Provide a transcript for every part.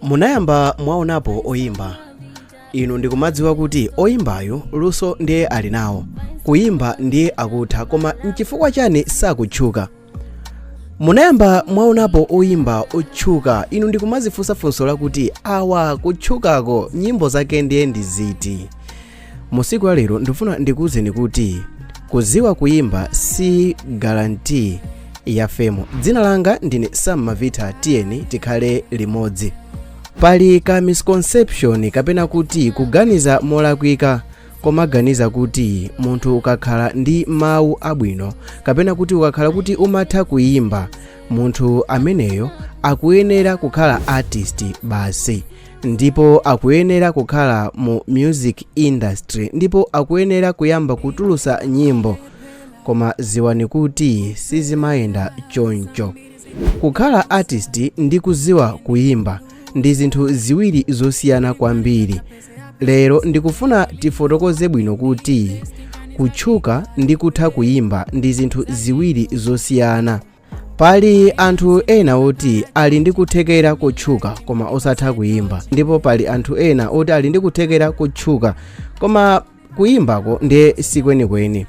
munayamba mwaonapo oyimba inu ndikumadziwa kuti oyimbayu luso ndiye ali nawo kuyimba ndiye akutha koma nchifukwa chani sakutchuka munayamba mwaonapo oyimba otchuka inu ndikumadzifunsa funso lakuti awa kutchukako nyimbo zake ndiye ndi ziti Mu tsiku la lero ndifuna ndikuwuzeni kuti kudziwa kuyimba si guarantee ya fame. Dzina langa ndine Sam Mavitha, tiyeni tikhale limodzi. Pali ka misconception kapena kuti kuganiza molakwika komaganiza kuti munthu ukakhala ndi mawu abwino kapena kuti ukakhala kuti umatha kuyimba munthu ameneyo akuyenera kukhala artist basi ndipo akuyenera kukhala mu music industry ndipo akuyenera kuyamba kutulutsa nyimbo koma dziwani kuti sizimayenda choncho kukhala artist ndi kudziwa kuyimba ndi zinthu ziwiri zosiyana kwambiri lero ndikufuna tifotokoze bwino kuti kutchuka ndi kutha kuyimba ndi zinthu ziwiri zosiyana pali anthu ena oti ali ndi kuthekera kotchuka koma osatha kuyimba ndipo pali anthu ena oti ali ndi kuthekera kotchuka koma kuyimbako ndiye sikwenikweni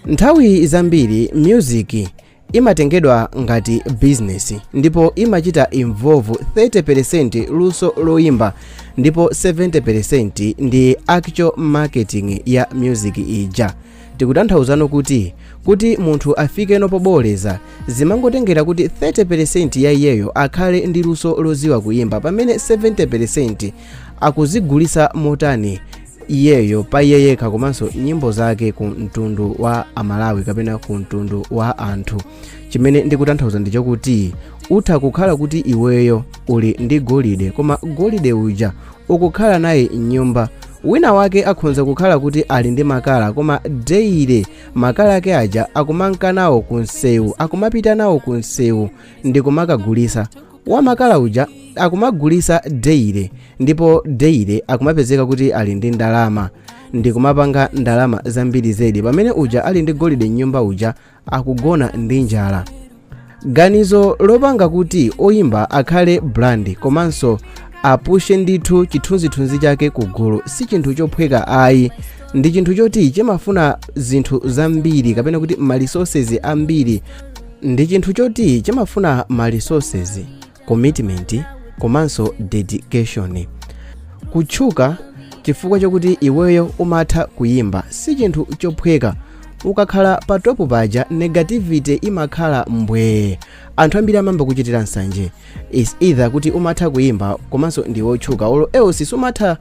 nthawi zambiri music imatengedwa ngati business ndipo imachita involve 30% luso loyimba ndipo 70% ndi actual marketing ya music ija Tikutanthauzano kuti kuti munthu afikeno pobooleza zimangotengera kuti 30% ya iyeyo akhale ndi luso lodziwa kuyimba pamene 70% akudzigulitsa motani iyeyo pa iye yekha komanso nyimbo zake ku mtundu wa amalawi kapena ku mtundu wa anthu chimene ndikutanthauza ndicho kuti utha kukhala kuti iweyo uli ndi golide koma golide uja ukukhala naye mnyumba wina wake akhonza kukhala kuti ali ndi makala koma daily makala ake aja akumamka nawo ku msewu akumapita nawo ku msewu ndi kumakagulitsa wa makala uja akumagulitsa daily ndipo daily akumapezeka kuti ali ndi ndalama ndi kumapanga ndalama zambiri zedi pamene uja ali ndi golide mnyumba uja akugona ndi njala ganizo lopanga kuti oyimba akhale brand komanso apushe ndithu chithunzithunzi chake ku gulu si chinthu chophweka ayi ndi chinthu choti chimafuna zinthu zambiri kapena kuti ma resources ambiri ndi chinthu choti chimafuna ma resources commitment komanso dedication kutchuka chifukwa chakuti iweyo umatha kuyimba si chinthu chophweka ukakhala pa topu paja negativity imakhala mbwee anthu ambiri amayamba kuchitira nsanje is either kuti umatha kuyimba komanso ndiwe otchuka olo else sumatha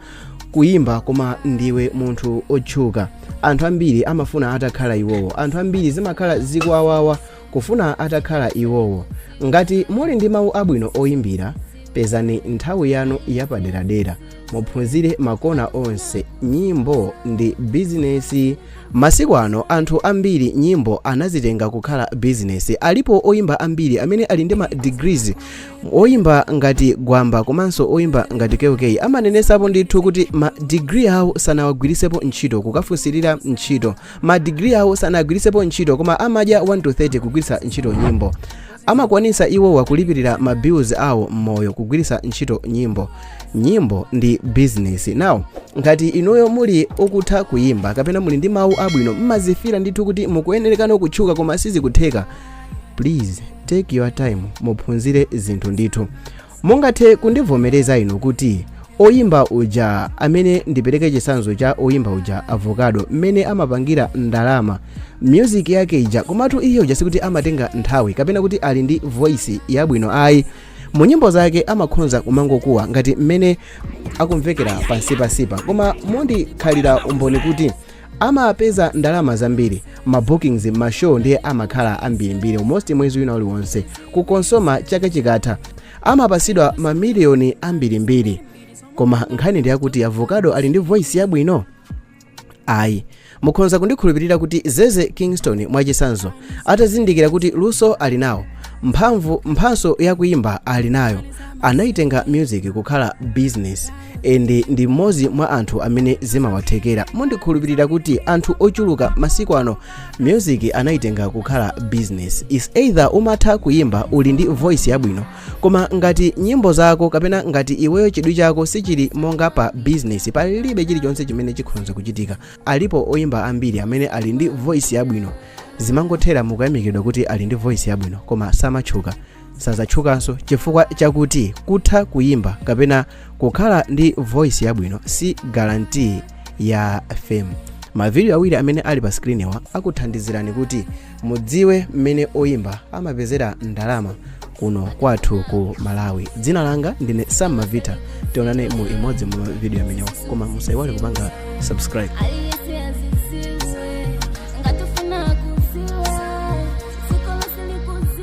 kuyimba koma ndiwe munthu otchuka anthu ambiri amafuna atakhala iwowo anthu ambiri zimakhala zikuwawawa Kufuna atakhala iwowo. Ngati muli ndi mawu abwino oyimbira, pezani nthawi yanu yapaderadera muphunzire makona onse nyimbo ndi bizinesi. Masiku ano anthu ambiri nyimbo anazitenga kukhala bizinesi. Alipo oyimba ambiri amene ali ndi ma degrees. Oyimba ngati Gwamba komanso oyimba ngati KK amanenesapo ndithu kuti ma degree awo sanawagwirisepo ntchito kukafunsirira ntchito. Ma degree awo sanagwiritsepo ntchito koma amadya 1 to 30 kugwiritsa ntchito nyimbo. Amakwanitsa iwowa kulipirira ma bills awo mmoyo kugwiritsa ntchito nyimbo. Nyimbo ndi business. Now, ngati inuyo muli okutha kuyimba kapena muli ndi mawu abwino mmazifila ndithu kuti mukuyenerekano kutchuka koma sizikutheka. Please take your time muphunzire zinthu ndithu. Mungathe kundivomereza inu kuti oyimba uja amene ndipereke chitsanzo cha oyimba uja avocado mmene amapangira ndalama music yake ija komatu iye uja sikuti amatenga nthawi kapena kuti ali ndi voice yabwino ayi mu nyimbo zake amakhonza kumangokuwa ngati mmene akumvekera pansipansipa koma mundikhalira umboni kuti Amapeza ndalama zambiri, ma bookings mma show ndiye amakhala ambirimbiri almost mwezi wina uliwonse. Ku COSOMA chaka chikatha amapatsidwa ma million ambirimbiri. Koma nkhani ndi yakuti Avocado ali ndi voice yabwino? Ayi. Mukhonza kundikhulupirira kuti Zeze Kingston mwachitsanzo atazindikira kuti luso ali nawo, mphamvu mphatso yakuyimba ali nayo, anayitenga music kukhala business. ende ndi mmodzi mwa anthu amene zimawathekera mundikhulupirira kuti anthu ochuluka masiku ano music anayitenga kukhala business is either umatha kuyimba uli ndi voice yabwino koma ngati nyimbo zako kapena ngati iweyo chidwi chako sichili monga pa business palibe chilichonse chimene chikhonza kuchitika alipo oyimba ambiri amene ali ndi voice yabwino zimangothera mukuyamikidwa kuti ali ndi voice yabwino koma samatchuka sazatchukanso chifukwa chakuti kutha kuyimba kapena kukhala ndi voice yabwino si guarantee ya fame mavidiyo awiri amene ali pa sikiriniwa akuthandizirani kuti mudziwe mmene oyimba amapezera ndalama kuno kwathu ku malawi dzina langa ndine sam mavita tionane mu imodzi mwa mavidiyo amenewa koma musaiwale kupanga subscribe